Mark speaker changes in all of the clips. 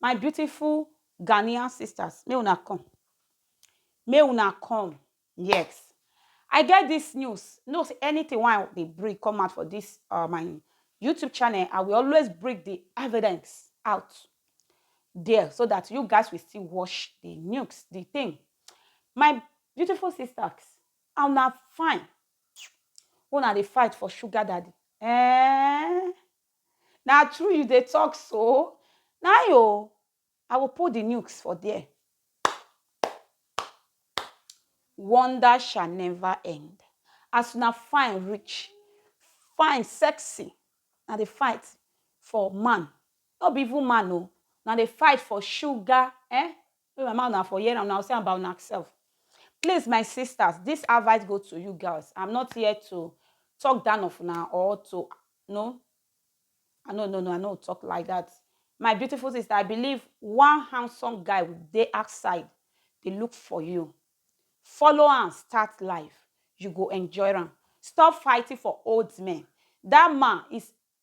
Speaker 1: My beautiful Ghanaian sisters, make una come, make una come, yes, I get this news, know say anything wey I dey bring come out for this uh, my YouTube channel, I will always bring the evidence out there so that you guys will still watch the news, the thing. My beautiful sisters, and una fine, una dey fight for sugar daddy. Eh, Na true you dey talk so nai o I go put the nukes for there wonder shall never end as una fine reach fine sexy na the fight for man no be even man o na the fight for sugar eh Make my mouth una for hear am una go see am by una self. Please my sisters this advice go to you girls am not here to talk down of una or to no I no no no I no talk like that my beautiful sister I believe one handsome guy dey outside dey look for you follow am start life you go enjoy am stop fighting for old men that man is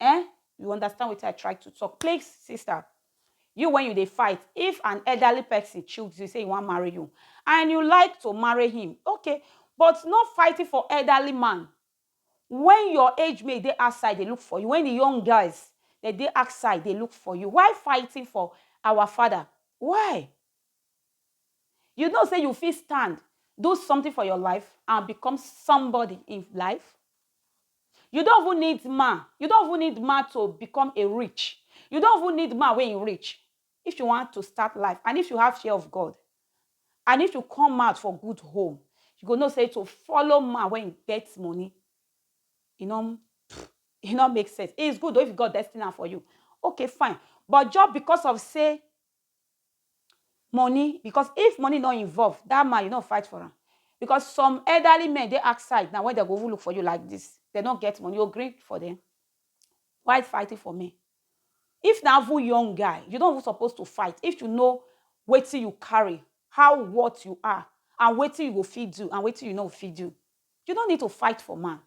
Speaker 1: Eh? You understand wetin I try to talk? Please, sister, you when you dey fight, if an elderly person choose you, say he wan marry you, and you like to marry him, okay, but no fighting for elderly man when your age mate dey outside dey look for you, when the young guys dem dey outside dey look for you. Why fighting for our father? Why? You know say you fit stand, do something for your life and become somebody in life. You don't even need man. You don't even need man to become a rich. You don't even need man when you rich. If you want to start life and if you have fear of God and if you come out for good home, you go know say to follow man when you get money, you know, it not make sense. It's good though if God destiny am for you. Okay, fine. But just because of say money because if money no involve that man you no fight for am because some elderly men dey outside now wey dem go even look for you like this dem no get money you go gree for them why fighting for men if na even young guy you no even suppose to fight if you know wetin you carry how what you are and wetin you go fit do and wetin you no fit do you no need to fight for man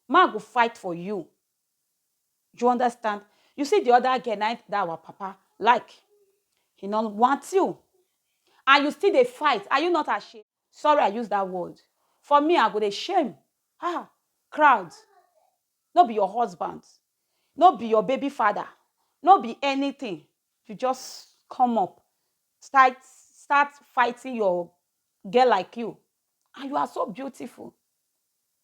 Speaker 1: man go fight for you you understand you see the other girl na that our papa like he no want you and you still dey fight are you not ashamed sorry i use that word for me i go dey shame ah crowd no be your husband no be your baby father no be anything you just come up start start fighting your girl like you and you are so beautiful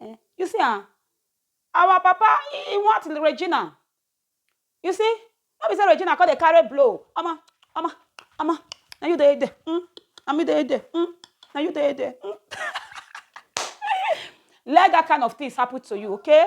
Speaker 1: Eh, you see am, our papa he want Regina. You see, no be say Regina come dey carry blow. Omo, omo, omo, na you dey there. Mm, na me dey there. Mm, na you dey there. Mm. Let that kind of things happen to you, okay?